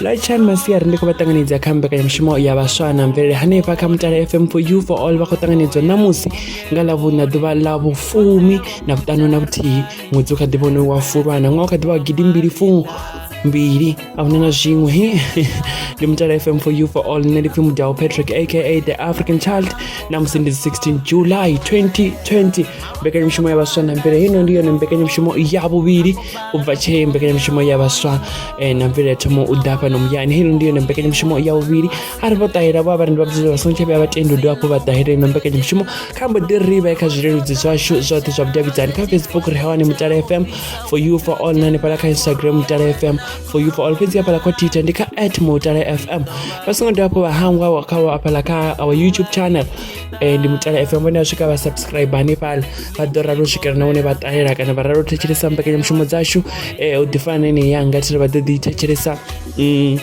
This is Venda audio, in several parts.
lwachan masiari ndi khou vha ṱanganedza kha mbekanyamushumo ya vhaswa na mvelele hanefha kha mutala fm for you for all vha khou ṱanganedzwa ṋamusi nga ḽavhuṋa ḓuvha ḽa vhufumi na vhuṱanu na vhuthihi ṅwedzi u kha ḓivha une wa fulwana ṅwaha u kha ḓivha wa gidi mbili fumu mbili a huna na zwiṅwe ndi mutala fm for you for all nṋe ndi pfhi mudao patrick aka the african child ṋamusi ndi 16 july 2020 mbekanyamushumo ya vhaswa na mvele hino ndi yone mbekanyamushumo ya vhuvhili u bva tshee mbekanyamushumo ya vhaswa eh, na mvele ya thomo u ḓa fhano muyani hino ndi yone mbekanyamushumo ya vhuvhili a ri vho ṱahela vho avharendi vha bvudzela vha songo tsha vhuya vha tendi u dovha hafhu vha ṱahela ino mbekanyamushumo kha mbo ḓi ri vhe kha zwileludzi zwashu zwoṱhe zwa vhudavhidzani kha facebook ri hawane mutala fm for you for all na hanefhala kha instagram mutala fm for you for all fhedzi hafhala kha twitter ndi kha at mutala fm vha songo dovha hafhu vha hangwa kha hafhala kha our youtube channel eh, ndi mutala fm vhone a swika vha subscribe hanefhala vha ḓo ralo swikela na hune vha ṱalela kana vha ralo thetshelesa mbekanyamushumo dzashu eh, u ḓifana na ine yanga thiri vha ḓo ḓi thetshelesa mm,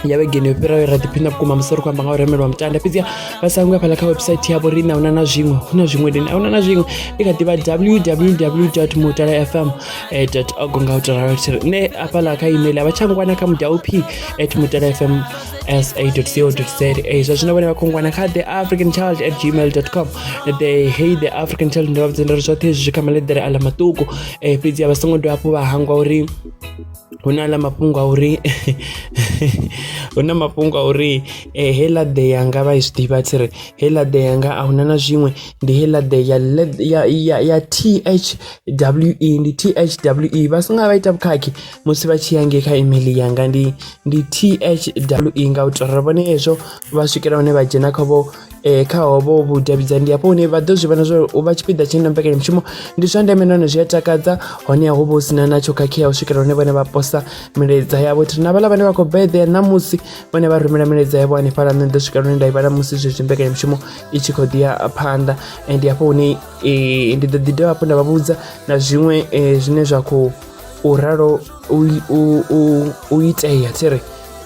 ya vhegeni yo fhiraho ra ḓiphina vhukuma musi ri khou amba nga u remelwa mutanda fhedziha vha sa ngwe fhala kha website yavho ri na una na zwiṅwe hu na zwiṅwe dini a una na zwiṅwe ndi kha ḓivha www mutala fm eh, org nga u taralo thiri nṋe afhaḽa kha email a vha tsha ngwana kha mudaup at mutala fm sa.co.za zwa zwino vhane vha khongwana kha the african child at gmail com the hey the african child ndo vha vhudzela uri zwoṱhe zwi kha maḽeḓere a ḽa maṱuku um fhedzi a vha songo dovha hafhu vha hangwa uri hu na ḽa mafhungo a uri hu na mafhungo a uri eh, heiḽa ḓe yanga vha i zwi ḓivha tshi ri heiḽa ḓe yanga a huna na zwiṅwe ndi heiḽa ḓe ya ya ya ya t h w e ndi t h w e vha songa vha ita vhukhakhi musi vha tshi ya nge kha email yanga ndi ndi THWE nga u tou ri vhone hezwo vha swikela hune vha dzhena kha vho eh, kha hovho vhudavhidzani ndi hafho hune vha ḓo zwi vhona zwa uri u vha tshipiḓa tshine na mbekanyamushumo ndi zwa ndeme nahone zwi a takadza honeha hu vha hu sina natsho khakhea u swikela hune vhone vha posa milaedza yavho thiri na vhaḽa vhane vha khou beḓea ṋamusi vhone vha rumela milaedza yavho hanefhaḽa nṋe ḓo swikela hune nda i vhala musi zwezwi mbekanyamushumo i tshi khou ḓi ya phanḓa ndi hafho hune eh, ndi ḓo ḓi dovha hafhu nda vha vhudza na zwiṅwe eh, zwine zwa khou u ralo u, u, u, u itea thi ri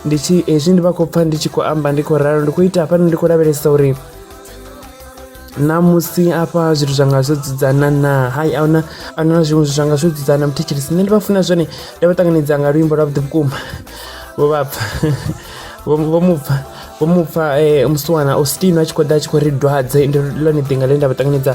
ndi tshi hezwi ndi vha khou pfha ndi tshi khou amba ndi khou ralo ndi khou ita hafhano ndi khou lavhelesa uri namusi afha zwithu zwanga zwo dzudzana na hai ahuna ahuna na zwiṅwe zwithu zwanga zwo dzudzana muthetshelesi nṋe ndi vha funa zwone ndi vha ṱanganedza nga luimbo lwa vhuḓi vhukuma vho vha pfha vho mu pfha vho mu pfha eh, musiwana austin a tshi khou ḓa a tshi khou ri dwadze ndi lone ḓinga ḽe nda vha ṱanganedza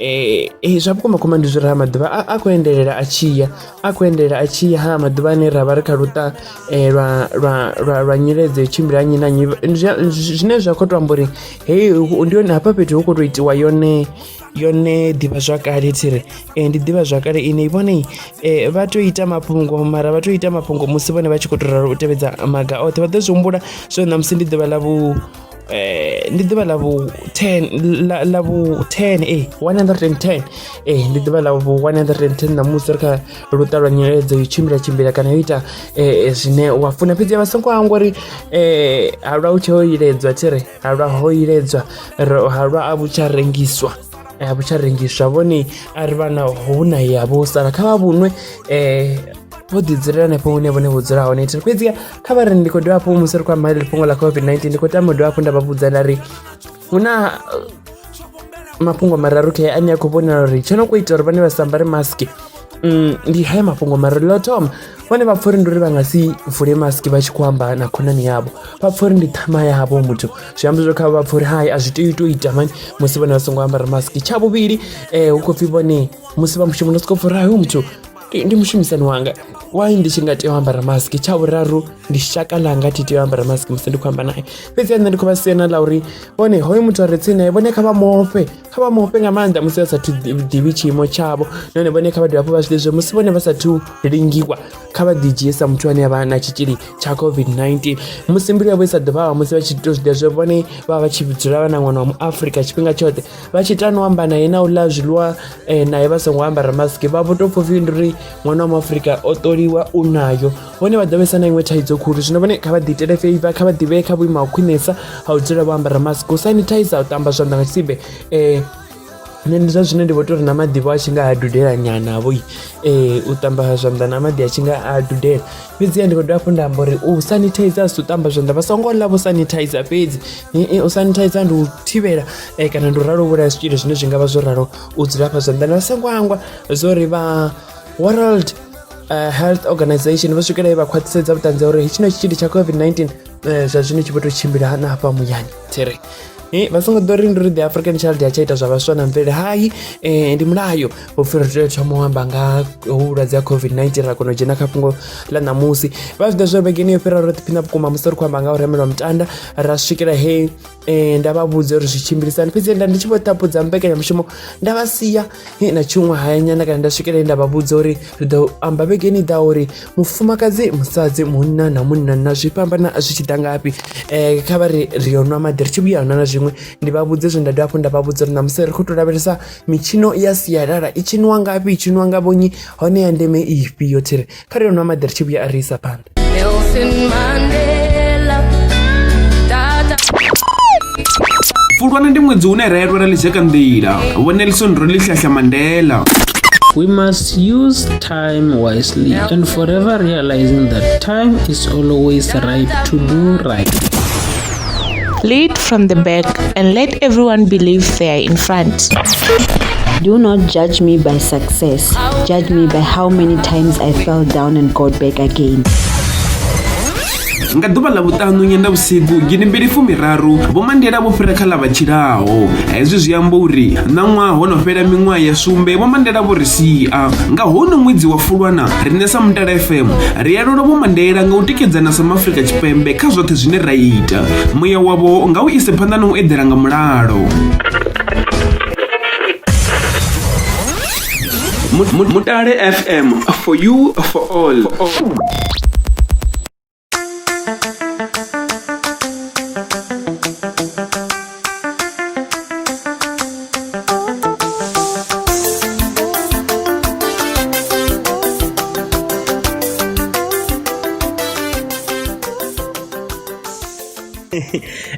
Eh, eh, zwa vhukuma kuma ndi zwi raha maḓuvha a khou endelela a tshiya a khou endelela a tshiya ha maḓuvha ane ra vha ri kha luṱa eh, lwa lwa lwa lwa nyiledzo tshimbila nnyi na nnyi zwine zwa khou to amba uri hei ndi yone hafha fhethu hu khou tou itiwa yone yone ḓivhazwakale thiri um ndi ḓivhazwakale ine vhone um vha tou ita mafhungo mara vha tou ita mafhungo musi vhone vha tshi khou tou ralo u tevhedza maga oṱhe vha ḓo zwi humbula so ṋamusi ndi ḓuvha ḽa vhu eh ndi ḓuvha ḽa vhu 10 ḽa vhu 10 eh 110 eh ndi ḓuvha ḽa vhu 110 na musi ri kha luṱa lwa nyeledzo yo tshimbila tshimbila kana yo ita eh, eh zwine wa funa fhedzi vha songo hangwa uri eh halwa u tshe ho iledzwa tshi ri halwa ho iledzwa halwa a vhu tsha rengiswa eh, a vhu tsha rengiswa vhone a ri vhana hu na ya vho sala kha vha vhunwe eh vho ḓi dzulela hanefho hune vhone vho dzula hone thiri fhedziha kha vha ri ndi khou dovha hafhu musi ri khou amba ḽi fhungo ḽa covid-19 ndi khou tama u dovha hafhu nda vha vhudza nda ri hu na uh, mafhungo mararu khe ane a khou vhonala uri tsho no kho ita uri vhane vha sambare mask mm, ndi haya mafhungo mararu ḽo thoma vhone vha pfha uri ndi uri vha nga si vule mask vha tshi khou amba na khonani yavho vha pfha uri ndi ṱhama yavho muthu zwi amba zwo kha vha pfha uri hai a zwi tea u tou ita mani musi vhone vha songo ambara mask tsha vhuvhili um hu khou pfhi vhone musi vha mushumoni sokou pfha uri hai hoyu muthu Ndi- ndi mushumisani wanga why ndi tshi nga tea u ambara mask tsha vhuraru ndi shaka langa thi tea u ambara mask musi ndi khou amba naye fhedzi nṋe ndi khou vha siena ḽa uri vhone hoyo muthu a re tsini naye vhone kha vha mofhe kha vha mofhe nga maanḓa musi vha sathu ḓi- ḓivhi tshiimo tshavho nahone vhone kha vha dovhe hafhu vha zwi ḓivhe zwa musi vhone vha sathu lingiwa kha vha ḓidzhie sa muthu ane a vha na tshitzhili tsha covid-19 musi mbilu yavho i sa ḓo vhavha musi vha tshi tou zwi ḓivha zwa uri vhone vha vha vha tshi dzula vha na ṅwana wa mu afrika tshifhinga tshoṱhe vha tshi tani u amba naye na u ḽa zwiḽiwa um naye vha songo ambara maski vha vho tou pfha upfhi ndi uri ṅwana wa muafurika o ṱoliwa u nayo vhone vha ḓo vhesa na iṅwe thaidzo khulu zwino vhone kha vha ḓi itele feiva kha vha ḓivhee kha vhuimo ha khwinesa ha u dzula vho ambara maski u sanitizer u ṱamba zwanḓa nga tshisibe um nṋe ndi zwa zwine ndi vho tou ri na maḓivho a tshi nga a dudela nyanavho um u ṱamba zwanḓa na maḓi a tshi nga a dudela fhedziha ndi khou dovha hafhu nda amba uri u sanitizer si u ṱamba zwanḓa vha songo ḽa vho sanitizer fhedzi u sanitizer ndi u thivhela eh, kana ndi u ralo vhulaya zwitzhili zwine zwi nga vha zwo ralo u dzula fha zwanḓani vha songo angwa zwo ri vha world eh, health organization vho swikela vha khwaṱhisedza vhuṱanzi ha uri tshino tshitzhili tsha covid-19 Eh, zwa zwino tshi vho to tshimbila hana hafha muyani there Eh, vha songo ḓo ri ndi ri the african child ya tsha ita zwa vhaswa na mvele hai eh, ndi mulayo upfhi ri tea u thoma u amba nga ha vhulwadze ha covid-19 ra kona u dzhena kha fhungo ḽa ṋamusi vha zwi ḓa zwa uri vhegeni yo fhira ro ḓiphina vhukuma musi ri khou amba nga ha u remelwa mutanda ra swikela he Eh, nda vha vhudza uri zwi tshimbilisani fhedzi nda ndi tshi vho ṱapudza mbekanyamushumo nda vha sia eh, na tshiṅwe hayanyana kana nda swikele nda vha vhudza uri ri ḓo amba vhegeni ḓa uri mufumakadzi musadzi munna na munna na zwi fhambana zwi tshi ḓa ngafhi um kha vha ri ri yo nwa maḓi ri tshi vhuya nwa na zwiṅwe ndi vha vhudze zwe nda dovha hafhu nda vha vhudza uri ṋamusi ri khou tou lavhelesa mitshino ya sialala i tshiniwa ngafhi i tshiniwa nga vhonyi hone ya ndeme ifhio thiri kha ri yo nwa maḓi ri tshi vhuya a ri isa phanḓa fulwana ndi ṅwedzi une ra elwela ḽidzeka nḓila vhonelison ro ḽihlahla mandela We must use time wisely and forever realizing that time is always right to do right. Lead from the back and let everyone believe they are in front. Do not judge me by success. Judge me by how many times I fell down and got back again. nga ḓuvha ḽa vhuṱanu nyenda vhusiku gidi mbili fumiraru vhomandela vho fhira kha ḽa vha tshilaho hezwi zwi amba uri ṋaṅwaha ho no fhela miṅwaha ya sumbe vhomandela vho ri sia nga hono ṅwedzi wa fulwana riṋe sa mutala fm ri alula vhomandela nga u tikedzana sa maafrika tshipembe kha zwoṱhe zwine ra ita muya wavho nga u ise phanḓa na u eḓela nga mulalo mutale fm for you for all, for all.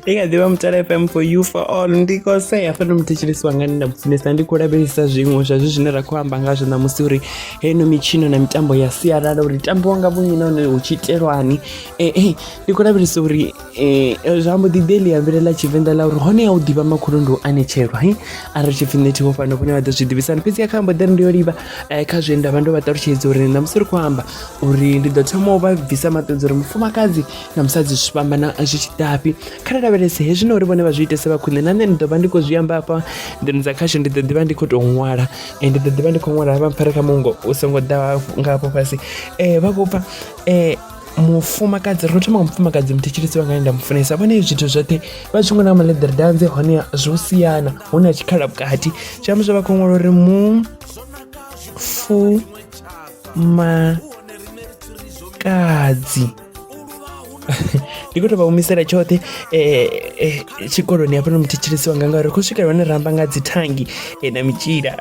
ikaziva mutala fm for you for all ndiko sei hafha ndo muthetshelesi wanga ni nda mufunesa ndi khou lavhelesa zwiṅwe zwa zwi zwine ra khou amba ngazwo ṋamusi uri heno mitshino na mitambo ya sialala uri tambiwa nga vhunyi nahone hu tshi itelwani ee ndi khou lavhelesa uri Eh, eh, zwa mbo ḓi ḓe ḽi ambelela tshivenḓa ḽa uri hone ya u ḓivha makhulu ndi u anetshelwa hi a ri tshipfi nṋe thiho fhano vhone vha ḓo zwi ḓivhisana fhedzi ya kha mbo ḓi ri ndi yo livha eh, kha zwe nda vha ndo vha ṱalutshedza uri na musi ri khou amba uri ndi ḓo thoma u vha bvisa maṱedza uri mufumakadzi na musadzi zwi fhambana zwi tshi ḓafhi kha ri lavhelese hezwi na uri vhone vha zwi itese vha khwine na nṋe ndi ḓo vha ndi khou zwi amba afha nḓuni dza khasho ndi ḓo ḓivha ndi khou tou ṅwala eh, ndi ḓo ḓivha ndi khou ṅwala vha mpfare kha mungo u songo ḓa nga hafho fhasi um vha khou pfa um mufumakadzi ro thoma nga mufumakadzi muthetshelesi wanga nda mufunesa vhone zwithu zwoṱhe vha tshi ṅwala maḽeḓere danze hone zwo siana hu na tshikhala vhukati zwi amba zwa vha khou ṅwala uri mu fu ma kadzi ndi khou tou vha humisela tshoṱhe eh, eh, tshikoloni hafha no muthetshelesi wanga ngauri khou swikela hone ramba nga dzithangi eh, na mitshila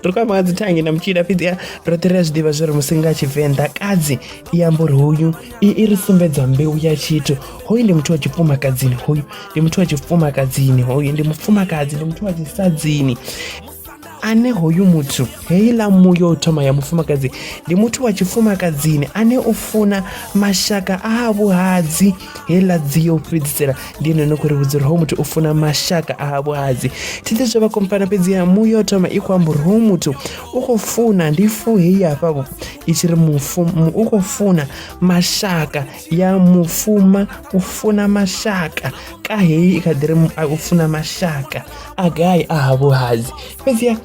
ri khou amba nga dzithangi na mitshila fhedzi roṱhe ri a zwi ḓivha zwi ri musi nga tshivenḓa kadzi i amba uri hoyu i i ri sumbedza mbeu ya tshithu hoyu ndi muthu wa tshifumakadzini hoyu ndi muthu wa tshifumakadzini hoyu ndi mufumakadzi ndi muthu wa tshisadzini ane hoyu muthu heiḽa muya o thoma ya mufumakadzi ndi muthu wa tshifumakadzini ane u funa mashaka a vhuhadzi heiḽa dzi yo fhedzisela ndi ene no khou ri vhudza uri ho muthu u funa mashaka a ha vhuhadzi thi ḓi zwo vha kompana fhedzi ya mu yo thoma i khou amba uri ho muthu u khou funa ndi fu heyi hafha vho i tshi ri mufu u khou funa mashaka ya mufuma u funa mashaka ka heyi i kha ḓi ri u funa mashaka a gai a ha vhuhadzi fhedzi ya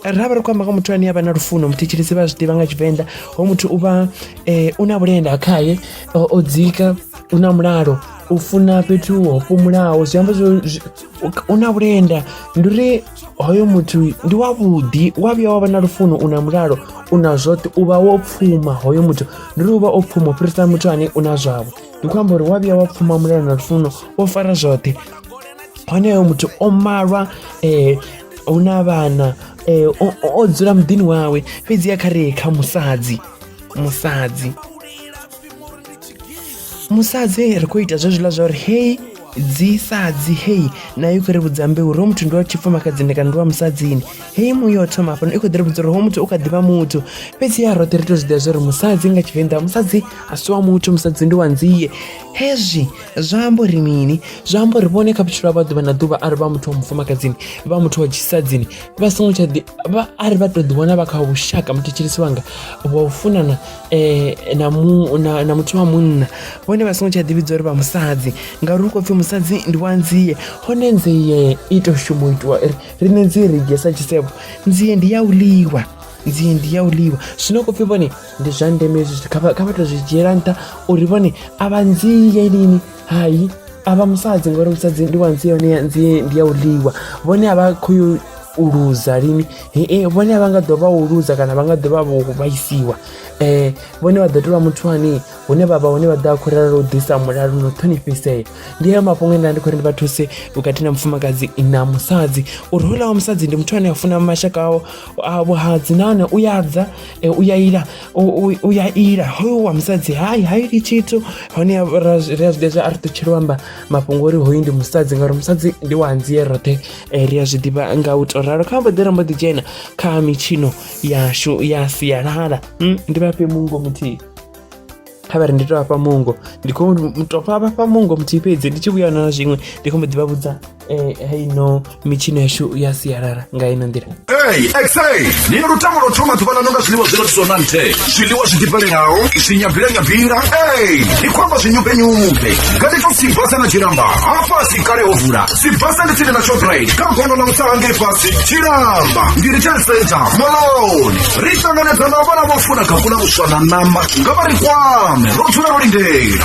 ra vha ri khou amba nga muthu ane a vha na lufuno muthetshelesi vha zwi ḓivha nga tshivenḓa ho muthu u vha um u na vhulenda khaye o, o dzika u na mulalo u funa fhethu ho fhumulaho zwi amba zwo zwi- u- u na vhulenda ndi uri hoyo muthu ndi wavhuḓi wa vhuya wa vha na lufuno u na mulalo u na zwoṱhe u vha wo pfuma hoyo muthu ndi uri u vha o pfuma u fhirisa muthu ane u na zwavho ndi khou amba uri wa vhuya wa pfuma mulalo na lufuno wo fara zwoṱhe honeyo muthu o malwa eh, hu na vhana eh, o- o o dzula muḓini wawe fhedziha kha re kha musadzi musadzi musadzi ri khou ita zwezwiḽa zwa uri hei dzisadzi hei nayo kho ri vhudza mbeu ro muthu ndi wa tshifumakadzini kana ndi wa musadzini hei muyo o thoma hafhano i kho ḓi ri vhudza uri ho muthu u kha ḓivha muthu fhedzi ya roṱhe ri to zwiḓivha zwa uri musadzi nga tshivenḓa musadzi a si wa muthu musadzi ndi wa nzie hezwi zwa amba uri mini zwa amba uri vhone kha vhutshilo vha ḓuvha na ḓuvha a ri vha muthu wa mufumakadzini vha muthu wa tshisadzini vha songo tsha ḓi a ri vha to ḓi wana vha kha vhushaka muthetsheleso wanga vha u funana eh, na, mu, na, na muthu wa munna vhone vha songo tsha ḓivhidza uri vha musadzi ngauri hu khou pfhi musadzi ndi wa nzie hone nzie i tou shuma u itiwa ri riṋe nzie ri dzhia sa tshisevho nzie ndi ya u ḽiwa nzie ndi ya u ḽiwa zwino khou pfhi vhone ndi zwa ndeme hezwi zwithu kha vha tou zwi dzhiela nṱha uri vhone a vha nzie lini hai avha musadzi ngori musadzi ndi wa nzi yone nzi ndi ya u ḽiwa vhone a vha khou yo u luza lini hee vhone a vha nga ḓovha u luza kana vha nga ḓovha vho vhaisiwa um vhone vha ḓo tovha muthu ane hune vha vha hune vha ḓo a khou rala u ḓisa mulalo no ṱhonifhisea ndi ayo mafhungo enda ndi khou ri ndi vha thuse vhukati na mufumakadzi na musadzi uri houḽa wa musadzi ndi muthu ane a funa mashaka ao a vhuhadzi nahone u ya dza u ya ila u, u, u ya ila hoyo wa musadzi hai ha ili tshithu hone ra zwi a zwiḓivha a ri ṱutshela amba mafhungo uri hoyu ndi musadzi ngauri musadzi ndi wa anzie roṱhe eh, ri a zwi ḓivha nga u to ralo kha mbo ḓi rambo ḓi dzhena kha mitshino yashu ya sialala mm, ndi vhafhe mungo muthihi kha vha ri ndi to vhafha mungo ndi khou to vha vhafha mungo muthihi fhedzi ndi tshi vhuyana na zwiṅwe ndi khou mbo ḓi vha vhudza eh, hei no mitshino yashu ya sialala nga ino nḓila Hey, exe, ni lutamo lo thoma ḓuvha ḽaṋu nga zwiḽiwa zwi rathisaho na nthe zwiḽiwa zwi ḓifhelelaho zwi nyabila nyabila ey ni khou amba zwinyumbenyumbe ngani to sibasa na tshilamba hafhasi kale ho vula sibasa ndi tsini na shoprite kha gondo ḽa mutsaha ngei fhasi tshilamba ndi retail center moloni ri ṱanganedza na vhana vho funa kakula vhuswa na ṋama nga vha ri kwame ro dzula ro lindela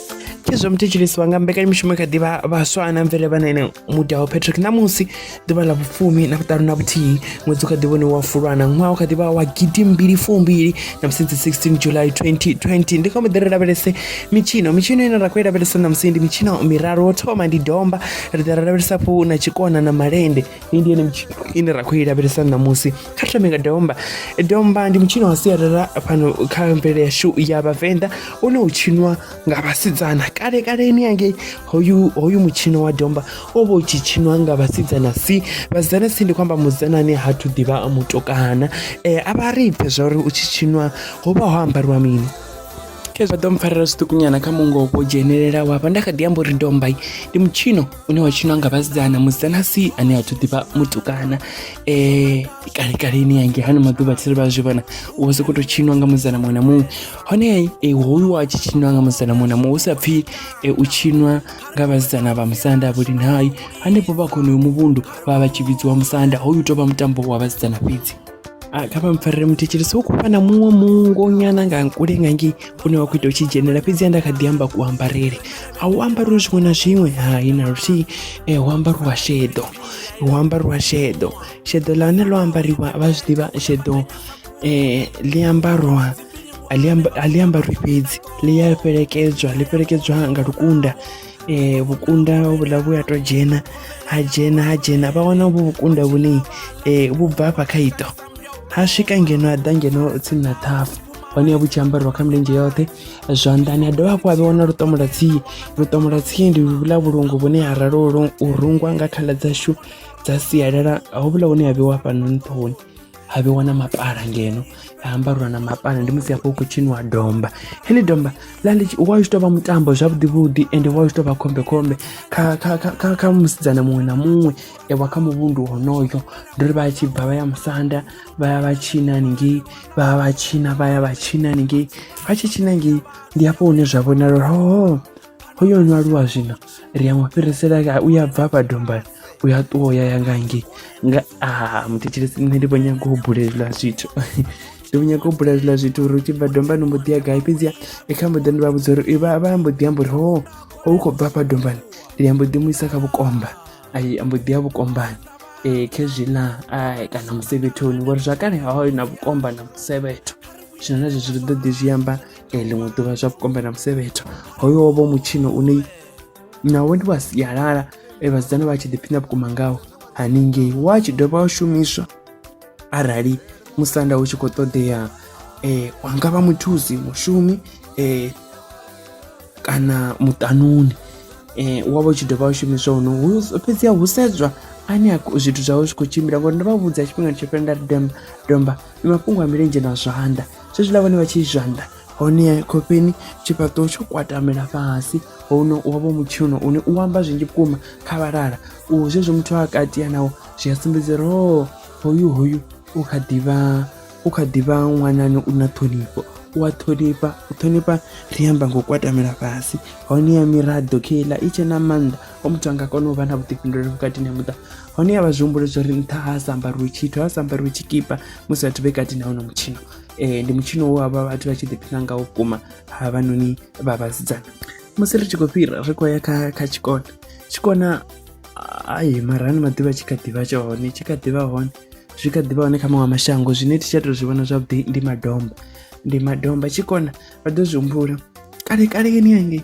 izwo mu thetshelesiwa nga mbekanyamushumo kha ḓivha vhaswa ana mvele vha nene mudaho patrick ṋamusi ḓuvha ḽa vhufumi na vhuṱanu na vhuthihi ṅwedzi u kha ḓivhone wa fulwana ṅwaha u kha ḓivha wa gidi mbili fumbili na musi dzi 16 july 2020 ndi kha muḓi ri lavhelese mitshino mitshino ine ra khou i lavhelesa ṋamusi ndi mitshino miraru wo thoma ndi domba ri ḓa ra lavhelesa fhu na tshikona na malende iyi ndi yone mitshino ine ra khou i lavhelesa ṋamusi kha ri thome nga domba domba ndi mutshino wa sialala fhano kha mvelele yashu ya vhavenḓa une u tshinwa nga vhasidzana kale kaleni yangei hoyu hoyu mutshino wa domba o vha u tshi tshinwa nga vhasidzana si vhasidzana si ndi khou amba musidzana ane ha thu ḓivha mutukana um a vha ri pfhe zwa uri u tshi tshinwa ho vha ho ambariwa mini khezwa ḓo mpfarela zwiṱukunyana kha mungo wo dzhenelela wavha nda kha ḓi amba uri dombai ndi mutshino une wa tshinwa nga vhasidzana musidzana si ane a thu ḓivha mutukana um kale kaleni yange hani maḓuvha thiri vha zwi vhona u vha sokou tou tshinwa nga musidzana muṅwe na muṅwe hone eh, hoyu wa tshi tshinwa nga musidzana muṅwe na muṅwe hu sa pfhi eh, u tshinwa nga vhasidzana vha musanda vhulini hai hanefho vha khonoyo muvhundu vha vha tshi vhidziwa musanda hoyu tou vha mutambo wa vhasidzana fhedzi Ah, kha vha mpfarele muthetshelesi u khou vha na muṅwe mungo nyana nga nkule nga ngei une wa khou ita u tshi dzhenela fhedzi a nda kha ḓi amba kuambarele a u ambariwe zwiṅwe na zwiṅwe hai na luthihi um eh, hu ambariwa sheḓo hu ambariwa sheḓo sheḓo ḽa hone ḽo ambariwa vha zwi ḓivha sheḓo um eh, ḽi ambarwa a ḽi ambarwi fhedzi ḽi a fhelekedzwa ḽi fhelekedzwa nga lukunda um vhukunda vhuḽa vhu a to dzhena ha dzhena ha dzhena vha wana vhu vhukunda vhune um eh, vhu bva afha kha ito ha swika ngeno a ḓa ngeno tsini na ṱhafu hone vhu tshi ambariwa kha milenzhe yoṱhe zwanḓani a dovha hafhu a vhe wana luṱomo lwa tsie luṱomo lwa tsie ndi vhula vhulungu vhune ha ralo u rungwa nga khaḽa dzashu dza sialala hovhula hune ha vhewa fhano nṱhoni ha vhewa na mapala ngeno ha ambarwa na mapala ndi musi hafho u khou tshiniwa domba heḽi domba ḽa ḽi wa u tshi tou vha mutambo zwavhuḓivhuḓi ende wa u tshi tou vha khombekhombe kha kha kha kha musidzana muṅwe na muṅwe e wa kha muvhundu honoyo ndi uri vha tshi bva vha ya musanda vha ya vha tshina haningei vha ya vha tshina vha ya vha tshina haningei vha tshi tshina ngei ndi hafho hune zwa vhonala uri hoho hoyo no aluwa zwino ri ya mu fhirisela u ya bva hafha dombani u ya ṱuwa u ya ya nga ngei nga a ah, muthetshelesi nṋe ndi vho nyaga u bulelwa zwithu ndi vho nyaga u bula zwiḽa zwithu uri u tshi bva dombani mbo ḓi ya gai fhedzia i kha mbo ḓi ndi vha vhudza uri vha vha mbo ḓi amba uri ho ho u khou bva hafha dombani ndi ya mbo ḓi mu isa kha vhukomba ai a mbo ḓi ya vhukombani um khezwiḽa ai kana musevhethoni ngori zwakale haho na vhukomba na musevhetho zwino na zwezwi ri ḓo ḓi zwi amba ee ḽiṅwe ḓuvha zwa vhukombe na musevhetho hoyo wo vha mutshino une nawo ndi wa sialala e vhasidzana vha tshi ḓiphina vhukuma ngawo haningei wa tshi dovha wa shumiswa arali musanda u tshi khou ṱoḓea um wa nga vha muthusi mushumi um kana muṱanuni um wa vha u tshi dovha wa shumiswa huno fhedzi a hu sedzwa ane a zwithu zwawe zwi khou tshimbila ngori ndo vha vhudza tshifhinga tsho fhela nda ri domba domba ndi mafhungo a milenzhe na zwanḓa zwezwiḽa vhone vha tshi zwanḓa hone khofheni tshifhaṱuwo tsho kwatamela fhasi hono wa vho mutshino une u amba zwinzhi vhukuma kha vhalala u zwezwo muthu a katia nawo zwi a sumbedza uri o hoyu hoyu u kha ḓivha u kha ḓivha ṅwanani u na ṱhonifho u a ṱhonifha u ṱhonifha ri amba ngo kwatamela fhasi hone ya miraḓo kheiḽa i tshe na maanḓa o muthu anga kona u vha na vhuḓifhinduleli vhukati na muṱa hone ya vha zwi humbule zwo ri nṱha ha sa ambariwe tshithu ha sa ambariwe tshikipa musi vhathu vhe kati na hono mutshino um ndi mutshino wo havha vhathu vha tshi ḓiphina nga vhukuma ha vhanoni vha vhasidzana musi ri tshi khou fhira ri khou ya kha kha tshikona tshikona ai mara ano maḓuvha tshi kha ḓivha tsha hone tshi kha ḓivha hone zwi kha ḓivha hone kha maṅwe mashango zwine thi tsha tou zwi vhona zwavhuḓi ndi madomba ndi madomba tshikona vha ḓo zwi humbula kale kale yeni yangei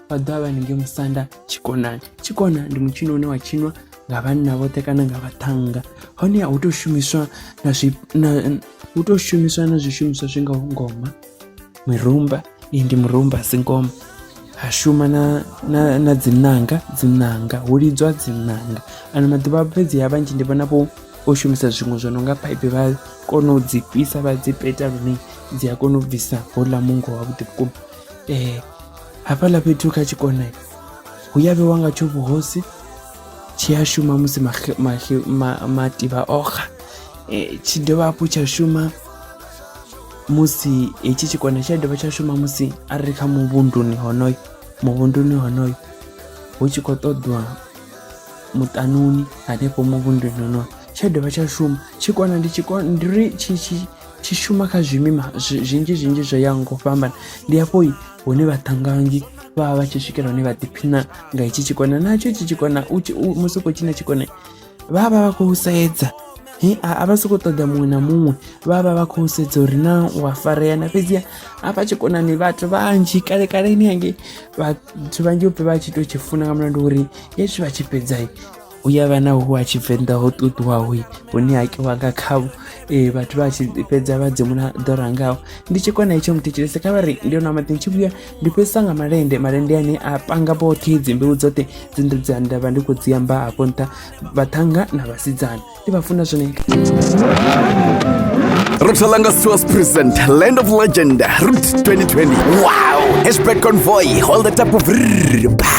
vhaḓovha vha ninge musanda tshikonani tshikona ndi mutshino une wa tshinwa nga vhanna vhoṱhe kana nga vhaṱhanga hone hu tou shumiswa na zwi hu tou shumiswa na zwishumiswa zwi ngaho ngoma mirumba iyi ndi murumba si ngoma ha shuma na, na, na dzinanga dzinanga hu lidzwa dzinanga ano maḓuvha fhedzi ya vhanzhi ndi vhona vho o shumisa zwiṅwe zwo no nga paipi vha kona u dzi fhisa vha dzi peta lune dzi a kona u bvisa houḽa mungo wavhuḓi vhukuma um hafhaḽa fhethu kha tshikone hu ya vhewa nga tsho vhuhosi tshi a shuma musi mativha oxa e, tshi dovha hafhu tsha shuma musi hetshi tshikone tshi a dovha tsha shuma musi a ri kha muvhunduni honoyo muvhunduni honoyo hu tshi khou ṱoḓwa muṱanuni hanefho muvhunduni honoyo tsha dovha tsha shuma tshikona ndi tshikona ndi ri tshi tshi tshi shuma kha zwimima zwinzhi zwinzhi zwo yaho ngo fhambana ndi hafho hune vhaṱangangi vha vha vha tshi swikela hune vha ḓiphina nga itshi tshikona natsho itshi tshikona musi u khou tshina tshikona vha vha vha khou sedza he a vha sokou ṱoḓa muṅwe na muṅwe vha vha vha khou sedza uri na u a farea na fhedziha hafha tshikonani vhathu vhanzhi kale kaleni hangei vhathu vhanzhi u pfhe vha tshi tou tshi funa nga mulandu uri hezwi vha tshi fhedzai hu ya vha na hu ha tshivenḓa ho ṱuṱuwaho hune ha kiwa nga khavho um vhathu vha tshi fhedza vha dzimula ḓora ngaho ndi tshi kona hetsho muthetshelese kha vha ri ndi ona maḓi tshi vhuya ndi fhedzisa nga malende malende ane a panga vhoṱhe dzimbeu dzoṱhe dzinḓu dza nda vha ndi khou dzi amba hafho nṱha vhaṱhanga na vhasidzana ndi vha funa zwone Rothalanga Stores present Land of Legend Route 2020. Wow! Hashtag convoy, hold the type of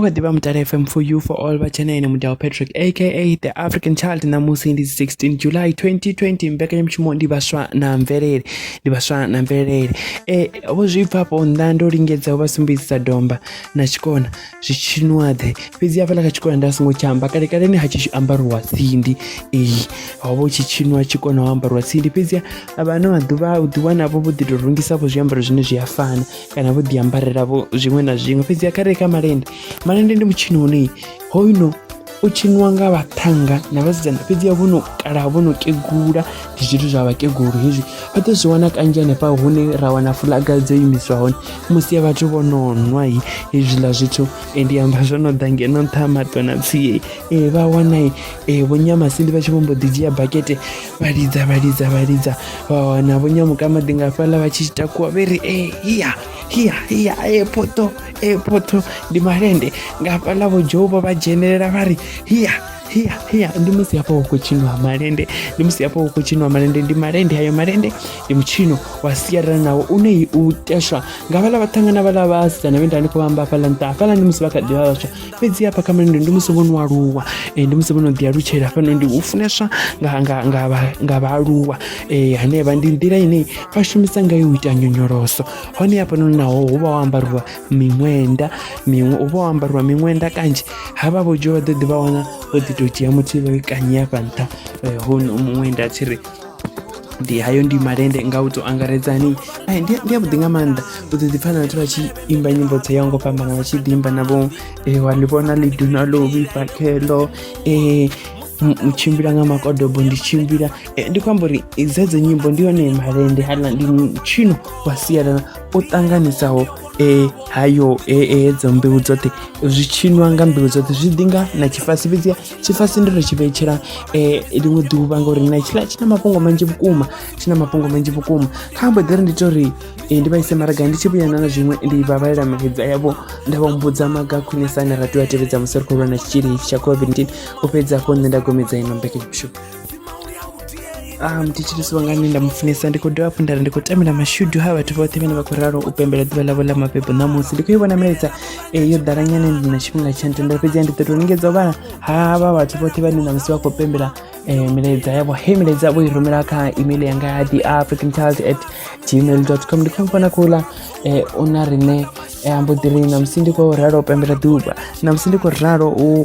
o kha ḓivha mutala fm for you for all vha tshena ene mudao patrick aka the african child ṋamusi ndi 16 july 2020 mbekanyamushumo ndi vhaswa na mvelele ndi vhaswa na mvelele e vho zwi bva afho nnḓa ndo lingedza u vha sumbedzisa domba na tshikona zwi tshinuaḓe fhedzi hafhaḽa kha tshikona nda songo tsha amba kalekaleni ha tshi ambariwa tsindi iyi ho vha u tshi tshinwa tshikona ho ambariwa tsindi fhedzi vha ano maḓuvha u ḓiwanavho vho ḓi tou rungisavho zwiambaro zwine zwi a fana kana vho ḓi ambarela vho zwiṅwe na zwiṅwe fhedzi a kha re kha malende malende ndi mutshini une hoyuno u tshiniwa nga vhaṱhanga na vhasidzana fhedzi a vho no kala vho no kegula ndi zwithu zwa vhakegulu hezwi vha ḓo zwi wana kanzhi hanefha hune ra wana fulaga dzo imiswa hone musi ya vhathu vho no nwa hi hezwiḽa zwithu e, ndi amba zwo no ḓa ngeno nṱha ha matona tsie e, vha wana e, vhonyamasindi vha tshi vho mbo ḓi dzhia bakete vha lidza vha lidza vha lidza vha wana vho nyamuka maḓi nga fhaḽa vha tshi takuwa vhe ri e hiya hiya hiya e poto e poto ndi malende nga fhaḽa vho dzhouba vha dzhenelela vha ri hiya hiya hiya ndi musi hafha hu khou tshiniwa malende ndi musi hafha hu khou tshiniwa malende ndi malende hayo malende ndi mutshino wa sialala nawo une u teshwa nga vhala vhaṱhangana vhala vhasidzana vhe nda ndi khou vhamba hafhaḽa nṱha hafhaḽa ndi musi vha kha ḓivha vhaswa fhedzi hafha kha mulindi ndi musi vho no aluwa eh, ndi musi vho no ḓi alutshela fhano ndi u funeswa nga, nga, nga, vha- nga vhaaluwa eh, hanevha ndi nḓila ine vha shumisa ngayo u ita nyonyoloso hone hafhanoni naho hu vha ho ambariwa miṅwenda miṅwe hu vha ho ambariwa miṅwenda kanzhi havha vho dzhiwa vha ḓo ḓi vha wana vho ḓi tou dzhia muthu vha i kanyi hafha nṱha eh, hono muṅwenda a tshi ri ndi hayo ndi malende nga u to angaredzani ai ndi ndi avhuḓi nga maanḓa u ḓi ḓipfha na vhathu vha tshi imba nyimbo dzo yaho ngo fhambana vha tshi ḓi imba navho e wa ḽi vhona ḽi duna ḽo vhifha khelo e u tshimbila nga makodobo ndi tshimbila e, ndi khou amba uri dzedzo nyimbo ndi yone malende hala ndi tshino wa sialala o ṱanganisaho e hayo e, e hedzo mbeu dzoṱhe zwi tshinwa nga mbeu dzoṱhe zwi ḓi nga na tshifasi fhedziha tshifasi ndi ri tshi vhetshela eh, ḽiṅwe ḓuvha ngauri na tshiḽa tshi na mafhungo manzhi vhukuma tshi na mafhungo manzhi vhukuma kha mbo ḓi ri ndi to ri eh, ndi vhaise maragani ndi tshi vhuyana na zwiṅwe ndi vhavhalela mahedza yavho nda vha mbudza maga khwinisa ane ra tea a tevhedza musi ri khou lwa na tshitzhili tsha covid-19 u fhedza afho nṋe nda gomedza ino mbekanyamishumo ah, muthetshedisi wanga ane nda mufunesa ndi khou dovha hafhu ndari ndi khou tamela mashudu ha vhathu vhoṱhe vhane vha khou ralo u pembela ḓuvha ḽavho ḽa mabebo ṋamusi ndi khou i vhona milaedza e yo ḓala nyane ndi na tshifhinga tsha ntendela fhedzi ya ndi ḓo tou lingedza u vhala havha vhathu vhoṱhe vhane ṋamusi vha khou pembela um milaedza yavho he milaedza vho i rumela kha email yanga ya the african child at gmail dot com ndi khou mufona khouḽa um u na riṋe ambo ḓi ri ṋamusi ndi khou ralo u pembela ḓuvha ṋamusi ndi khou ralo u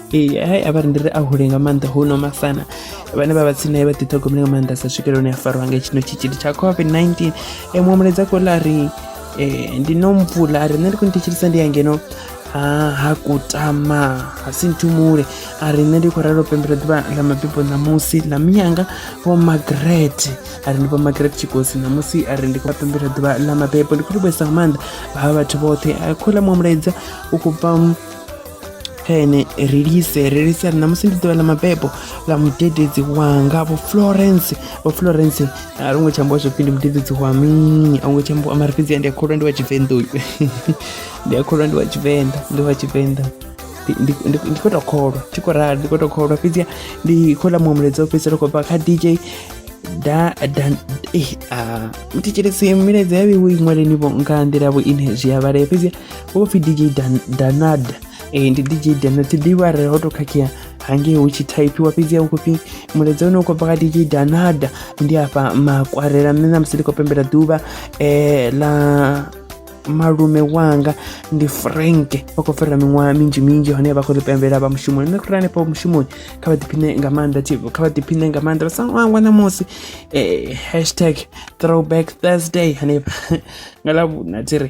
ee hai a vha ri ndi ri a hule nga maanḓa hu no masana vhane vha vha tsini naye vha ḓiṱhogomele nga maanḓa sa swikela hune a farwa nga tshino tshitzhili tsha covid-19 e muṅwe muledza khou ḽa ri um ndi no mvula a ri nṋe ndi khou ni thetshelisa ndi ya ngeno ha ha kutama ha si nthumule a ri nṋe ndi khou ralo pembela ḓuvha ḽa mabibo ṋamusi ḽa miyanga vho magret a ri ndi vho magret tshikosi ṋamusi a ri ndi khou pembela ḓuvha ḽa mabebo ndi khou livhuesa nga maanḓa vha vha vhathu vhoṱhe a khola muṅwe mulaedza u khou bva kha ene ri lise ri lise ri ṋamusi ndi ḓuvha ḽa mabebo ḽa mudededzi wanga vho florence vho florence a ri ngo tsha ambiwa zwopfi ndi mudededzi wa mini a hu ngo tsha ambiwa mara fhedzi ndi a kholwa ndi wa tshivenḓa uyu ndi a kholwa ndi wa tshivenḓa ndi wa tshivenḓa ndi khou tou kholwa thi khou rali ndi khou tou kholwa fhedziha ndi khou ḽa muṅwe mulaedza wo fhedzisela khou bva kha dj da da eh a mutitshelesi milaedza ya vheiwe i ṅwaleni vho nga nḓila vho ine zwi a vhalea fhedziha wo pfi dj Dan, danad e, ndi dj danad thi ḓivhi arali ho tou khakhea hangei hu tshi thaiphiwa fhedzi ya hu khou pfi mulaedza une u khou bva kha dj danad ndi afha makwarela nṋe namusi ndi khou pembela ḓuvha um ḽa malume wanga ndi frank vha khou fhirela miṅwaha minzhi minzhi hone vha khou ḓi pembela vha mushumoni nṋe khura hanefha mushumoni kha vha ḓiphine nga maanḓa tv kha vha ḓiphine nga maanḓa vha sa ṅwangwa ṋamusi um hashtag throwback thursday hanefha nga ḽa vhuna dzi ri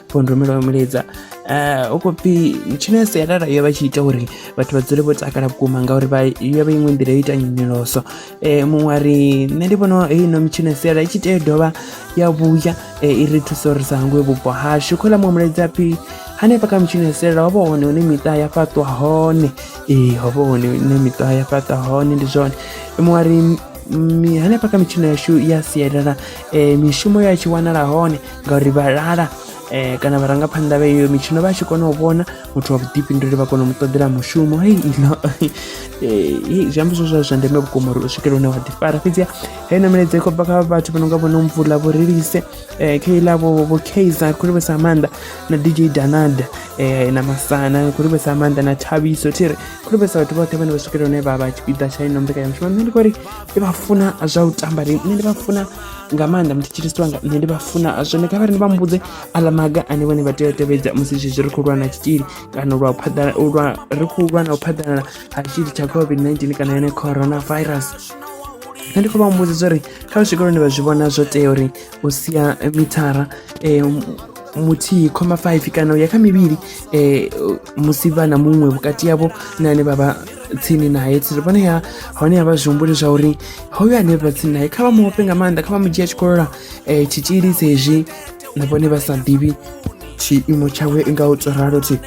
phundumelwa wa mulidza eh, u khou pfi tshino ya sialala yo vha tshi ita uri vhathu vha dzule vho takala vhukuma ngauri vha yo vha iṅwe nḓila yo ita nyonyoloso um eh, muṅwe ari nṋe ndi vhona ino mitshino ya sialala i tshi tea dovha ya vhuya eh, i ri thusa uri sa hangwe vhupo hashu khola muṅwe mulidza phi hanefha kha mitshino ya sialala ho vha hone hune miṱa ya fhaṱwa hone ee ho vha hone hune miṱa ya fhaṱwa hone ndi zwone muṅwe ari hanefha kha mitshino yashu ya sialala um mishumo ya tshi wanala hone ngauri vha lala um kana vharangaphanḓa vha iyo mitshino vha tshi kona u vhona muthu wa vhuḓifhinduleli vha kona u mu ṱoḓela mushumo hei ino eh, zwi amba zwo zwa zwa ndeme vhukuma uri u swikele hune wa ḓifara fhedziha heyi na milaedza i khou bva kha vhathu vha no nga vhone mvula vho relise um kha iḽa vho kaizer khou livhesa maanḓa na dj danada um na masana khou livhesa maanḓa na thabiso thi ri khou livhesa vhathu vhoṱhe vhane vha swikele hune vha vha tshipiḓa tsha ino mbekanyamushumo nṋe ndi kho ri ndi vha funa zwa u tamba ri nṋe ndi vha funa nga maanḓa muthetshelesi wanga nṋe ndi vha funa zwone kha vha ri ndi vha mbudze aḽa maga ane vhone vha tea u tevhedza musi zwezwi ri khou lwa na tshitzhili kana lwa phaḓala lwa ri khou lwa na u phaḓalala ha tshitzhili tsha covid-19 kana yone corona virus nṋe ndi khou vha mbudza zwa uri kha vha swike lune vha zwi vhona zwo tea uri u sia mithara um muthihi khoma 5 kana u ya kha mivhili um musi vha na muṅwe vhukati yavho na ane vha vha tsini naye tsiri vhone ya hone ya vha zwihumbuli zwa uri hoyo ane vha tsini naye kha vha muofhe nga maanḓa kha vha mu dzhia tshikolola um eh, tshitzhili sezwi na vhone vha sa ḓivhi tshiimo tshawe nga u tsoralo thi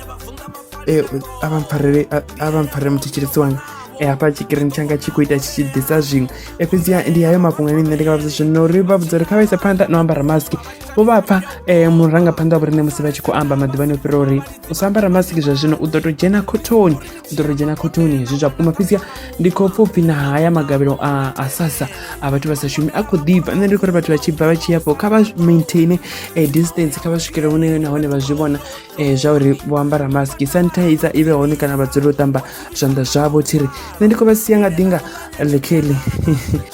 eh, a vha mpfarele a vha mpfarele muthetshelesi wanga eh, hafha tshikirini tshanga tshi khou ita tshi tshi ḓisa zwiṅwe fhedziha ndi hayo mafhungo ane nṋe ndi nga vha vhudza zwino uri vha vhudza uri kha vha isa phanḓa no ambara mask vho vha pfa um murangaphanḓa wa vhorine musi vha tshi khou amba maḓuvhani o fhira uri u sa ambara masiki zwa zwino u ḓo tou dzhena khothoni u ḓo tou dzhena khothoni hezwi zwa vhukuma fhedzia ndi khou pfa upfhi na haya magavhelo a a sasa a vhathu vha sa shumi a khou ḓibva nṋe ndi khou ri vhathu vha tshi bva vha tshi yafho kha vha maintaine um distance kha vha swikele hune nahone vha zwi vhona um zwa uri vho ambara maski sanitizer i vhe hone kana vha dzule u ṱamba zwanḓa zwavho thiri nṋe ndi khou vha sia nga ḓinga ḽekheli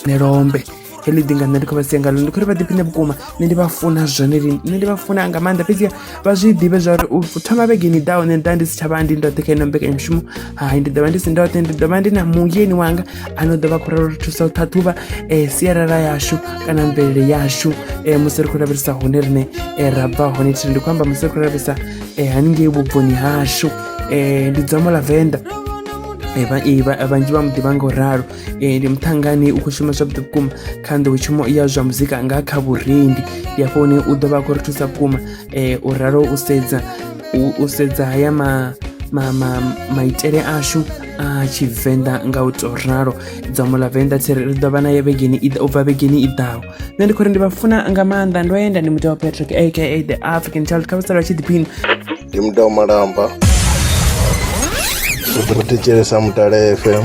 nelombe heḽi ḓinga nṋe ndi khou vha sia ngalo ndi khou ri vha ḓiphiṋe vhukuma nṋe ndi vha funa zwone lini nṋe ndi vha funa nga maanḓa fhedzi vha zwi ḓivhe zwa uri u thoma vhegeni ḓaho nṋe nda ndi si tsha vha ndi ndoṱhe kha ino mbekanyamushumo hai ndi ḓo vha ndi si ndoṱhe ndi ḓo vha ndi na muyeni wanga a no ḓo vha khou ralo ri thusa u ṱhaṱhuvha um sialala yashu kana mvelele yashu um musi ri khou lavhelesa hone riṋe um ra bva hone thiri ndi khou amba musi ri khou lavhelesa um haningei vhubvoni hashu um ndi dzomo ḽa venḓa vhanzhi vha mu ḓivha nga u ralo eh, ndi muṱhangani u khou shuma zwavhuḓi vhukuma kha nḓowetshumo ya zwa muzika nga kha vhurendi ndi afho hune u ḓo vha a khou ri thusa vhukuma eh, u ralo u sedza u sedza haya ma ma ma maitele ashu a tshivenḓa nga u tou ralo dzomo ḽa venḓa tsiri ri ḓo vha naye vhegeni u bva vhegeni i ḓaho nṋe ndi khou ri ndi vha funa nga maanḓa ndo yenda ndi muḓi wa patrick aka the african child kha vhasala vha tshi ḓiphina ndi muḓi wa malamba ri thetshelesa mutale fm